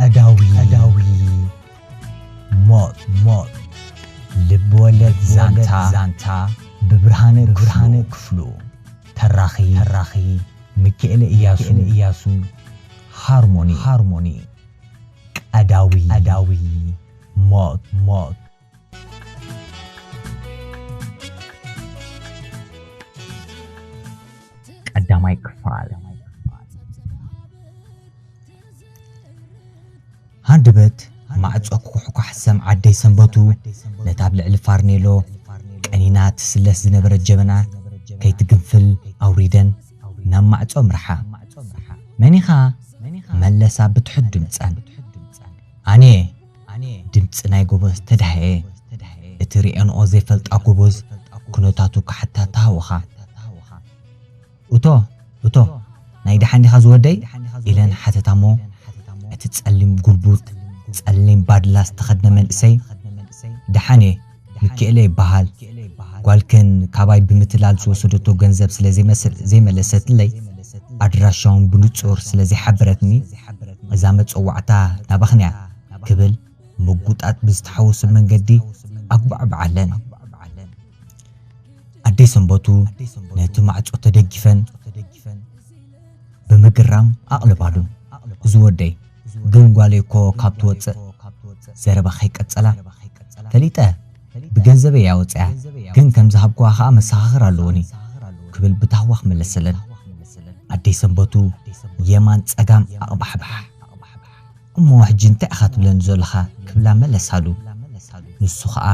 ቀዳዊ ቀዳዊ ሞት ሞት ልብ ወለድ ዛንታ ዛንታ ብብርሃነ ብርሃነ ክፍሉ ተራኺ ተራኺ ሚካኤለ ኢያሱ ኢያሱ ሃርሞኒ ሃርሞኒ ቀዳዊ ቀዳዊ ሞት ሞት ቀዳማይ ክፋል ሃንደበት ማዕጾ ክኩሕኳሕ ሰም ዓደይ ሰንበቱ ነታ ኣብ ልዕሊ ፋርኔሎ ቀኒና ትስለስ ዝነበረት ጀበና ከይትግንፍል ኣውሪደን ናብ ማዕጾ ኣምርሓ። መን ኢኻ? መለሳ ብትሑት ድምጸን። ኣነ'የ። ድምጺ ናይ ጎበዝ ተዳህኤ እቲ ሪኤንኦ ዘይፈልጣ ጎበዝ ኩነታቱ ክሓታ ተሃውኻ እቶ እቶ ናይ ዳሓን ዲኻ ዝወደይ ኢለን ሓተታሞ እቲ ጸሊም ጉልቡጥ ጸሊም ባድላ ዝተኸድነ መንእሰይ ዳሓን እየ ሚኪኤለ ይበሃል። ጓልከን ካባይ ብምትላል ዝወሰደቶ ገንዘብ ስለ ዘይመለሰትለይ፣ ኣድራሻ'ውን ብንጹር ስለ ዘይሓበረትኒ፣ እዛ መጸዋዕታ ናባኽን'ያ ክብል ምጕጣጥ ብዝተሓወሶ መንገዲ ኣጕባዕብዓለን። ኣደይ ሰንበቱ ነቲ ማዕጾ ተደጊፈን ብምግራም ኣቕለባሉ። እዚ ወደይ! ግን ጓለይ እኮ ካብ ትወጽእ ዘረባ ከይቀጸላ ፈሊጠ ብገንዘበይ እያ ወጺኣ ግን ከም ዝሃብኩዋ ከኣ መሰኻኽር ኣለዉኒ ክብል ብታህዋኽ መለሰለን። ኣደይ ሰንበቱ የማን ጸጋም ኣቕባሕባሕ እሞ ሕጂ እንታይ ኢኻ ትብለኒ ዘሎኻ ክብላ መለሳሉ። ንሱ ከኣ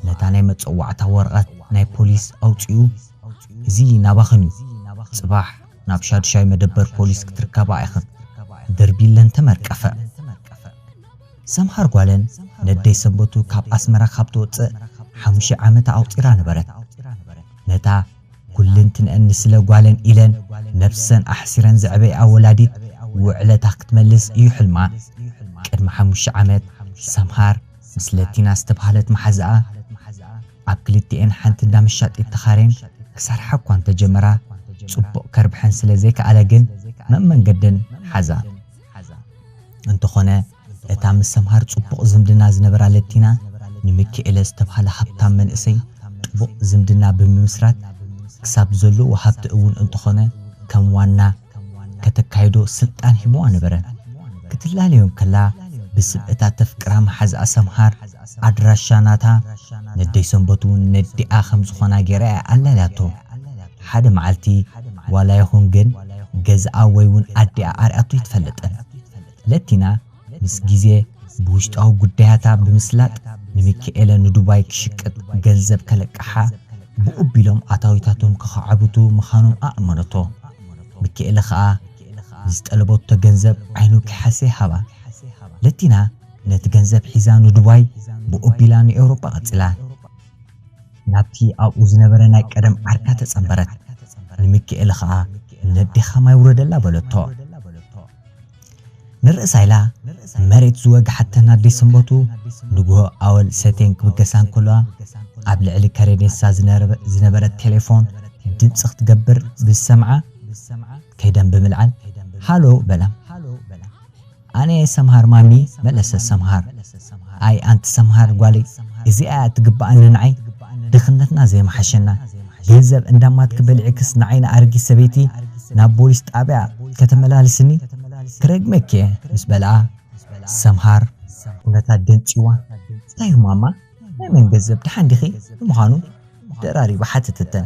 ነታ ናይ መጸዋዕታ ወረቐት ናይ ፖሊስ ኣውጺኡ እዚ ናባኽን እዩ ጽባሕ ናብ ሻድሻይ መደበር ፖሊስ ክትርከባ ኢኽን ደርቢለን ተመርቀፈ። ሰምሃር ጓለን ነደይ ሰንበቱ ካብ ኣስመራ ካብ ትወጽእ ሓሙሽይ ዓመታ ኣቁጺራ ነበረት። ነታ ኩልንትንኣን ንስለ ጓለን ኢለን ነብሰን ኣሕሲረን ዘዕበይኣ ወላዲት ውዕለታ ክትመልስ ኢዩ ሕልማ። ቅድሚ ሓሙሽተ ዓመት ሰምሃር ምስ ለቲና ዝተባህለት መሓዝኣ፣ ኣብ ክልቲኤን ሓንቲ እንዳ መሻጢት ተኻሬን ክሰርሓ እኳ እንተ ጀመራ፣ ጽቡቕ ከርብሐን ስለ ዘይከኣለ ግን መመንገደን ሓዛ። እንተኾነ እታ ምስ ሰምሃር ጽቡቕ ዝምድና ዝነበራ ለቲና፣ ንሚኪኤለ ዝተባህለ ሃብታም መንእሰይ ጥቡቕ ዝምድና ብምምስራት፣ ክሳብ ዘሎዎ ሃብቲ እውን እንተኾነ ከም ዋና፣ ከተካይዶ ስልጣን ሂቡዋ ነበረ። ክትላለዮም ከላ ብስም እታ ተፍቅራ መሓዝኣ ሰምሃር፣ ኣድራሻ ናታ፣ ነደይ ሰንበቱ'ውን ነዲኣ ከም ዝኾና ገይራ እያ ኣላልያቶ። ሓደ መዓልቲ ዋላ ይኹን ግን ገዝኣ ወይ'ውን ኣዲኣ ኣርእያቶ ኣይትፈልጥን። ለቲና። ምስ ግዜ ብውሽጣዊ ጉዳያታ ብምስላጥ ንሚኪኤለ ንዱባይ ክሽቅጥ ገንዘብ ከለቅሓ ብኡ ቢሎም ኣታዊታቶም ከኻዕብቱ ምኻኖም ኣእመነቶ። ሚኪኤለ ከኣ ንዝጠለበቶ ገንዘብ ዓይኑ ከይሓሰየ ሃባ። ለቲና ነቲ ገንዘብ ሒዛ ንዱባይ ብኡ ቢላ ንኤውሮጳ ቀጺላ። ናብቲ ኣብኡ ዝነበረ ናይ ቀደም ዓርካ ተጸንበረት። ንሚኪኤለ ከኣ ነዴኻ ማይ ውረደላ በለቶ። ንርእሳ ኢላ መሬት ዝወግሓተን ኣዲስ ሰንበቱ፣ ንግሆ ኣወል ሰትየን ክብገሳ እንከለዋ፣ ኣብ ልዕሊ ከሬኔሳ ዝነበረት ቴሌፎን ድምጺ ክትገብር ብዝሰምዓ፣ ከይደን ብምልዓል፣ ሃሎ በላ። ኣነ ሰምሃር ማሚ፣ መለሰት ሰምሃር። ኣይ ኣንቲ ሰምሃር ጓለይ እዚኣ እያ እትግበኣኒ ንዓይ ድኽነትና ዘይምሓሸና ገንዘብ እንዳማትኪ በሊዕክስ ንዓይ ንኣረጊት ሰበይቲ ናብ ቦሊስ ጣብያ ከተመላልስኒ ክረግመኪ እየ ምስ በልኣ ሰምሃር ኩነታ ደንጺዋ እንታይ እዩ ማማ ናይ መን ገንዘብ ድሓን ዲኺ ንምዃኑ ደራሪባ ሓተተተን።